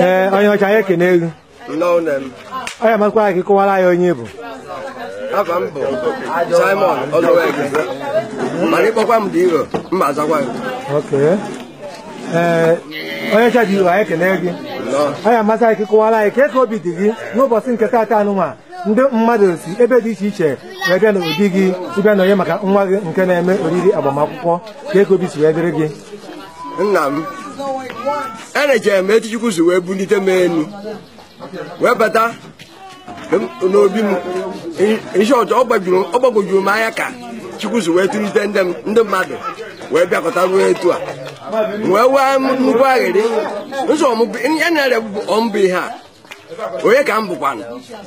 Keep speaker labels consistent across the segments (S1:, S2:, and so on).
S1: ee onye ọcha anyị ekenego Nnọọ nne m. ọ ya-amasịkwa anyị ka ị kọwara anyị onye ị bụ Afa
S2: m bụ Simon Oluweke. Mana ị kpọkwa m dị iro, m ma-azakwa gị. oke
S1: ee onye ọcha dị iro anyị ekene gị ọ ya-amasị anyị ka ị kọwara anyị ka ka obi dị gị n'ụbọchị nke taata anụnwa ndị mmadụ si ebe dị iche iche wee bịa n'obi gị ịbịa nọnye maka nwa gị nke na-eme oriri agbamakwụkwọ ka ka obi si wee dịrị gị nna m
S2: enechere m etu chukwu si wee bulite m elu wee bata n'obi m ihe ọjọọ ọ gbagwojuru m anya ka chukwu si wee tụlite ndị m- ndị mmadụ wee bịakọta ruo etu a wee wee m nnukwu aghịrị ụzọ ya na-ere ọmbụ ihe a onye ka m bụkwanụ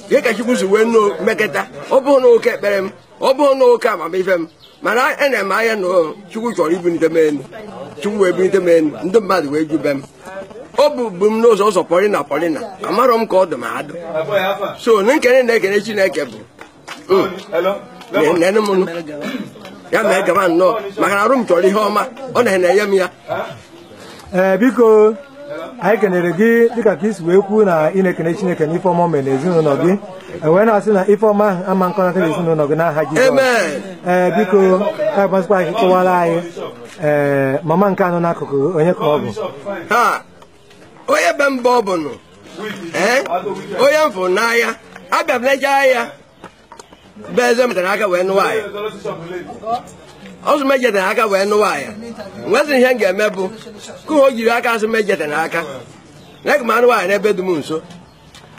S2: ihe ka chukwu si wee nọọ meketa ọ bụrọ na oke ekpere m ọ bụrọ na oke amamife m mana ene m anya na chukwu chọrọ ibunite m elu chukwu wee bunite m elu ndị mmadụ wee ju be m obi bụ m sọsọ pọlina pọlina amarọ m ka ọ dị m adụ sọ na m kene na-ekene chineke bu n'enu ya mee gaba nnọọ maka na arụ m chọrọ ihe ọma ọ na-enye m ya ee
S1: biko anyị kenere gị dịka ka i si wee kwuo na ị na-ekene chineke na ife ọma mere na ezinụlọ gị wee na-asị na ife ọma ahụ ama akọnata na ezinụlọ gị n'aha Jizọs ee biko ọ ga-amasịkwa anyị ị kọwara anyị ee mama nke a nọ n'akụkụ onye ka ọ
S2: bụ onye be mba ọ bụnụ onye m fụrụ n'ahịa abịa m lecha ahịa be eze metara aka wee nụwa ya ọzọ mejetara aka wee nụwa ya nwezi ihe m ga-eme bụ ka o jiri aka azụ mejetara aka na ka m anụ nwaanyị n'ebe dị m nso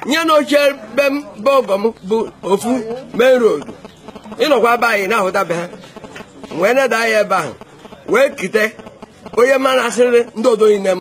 S2: nya na ochie be m be ọgọ m bụ ofu main road ị nọkwa be anyị na-ahụta be ha m wee neda anya ebe ahụ wee kute onye m na-asịrị ndị odo niile m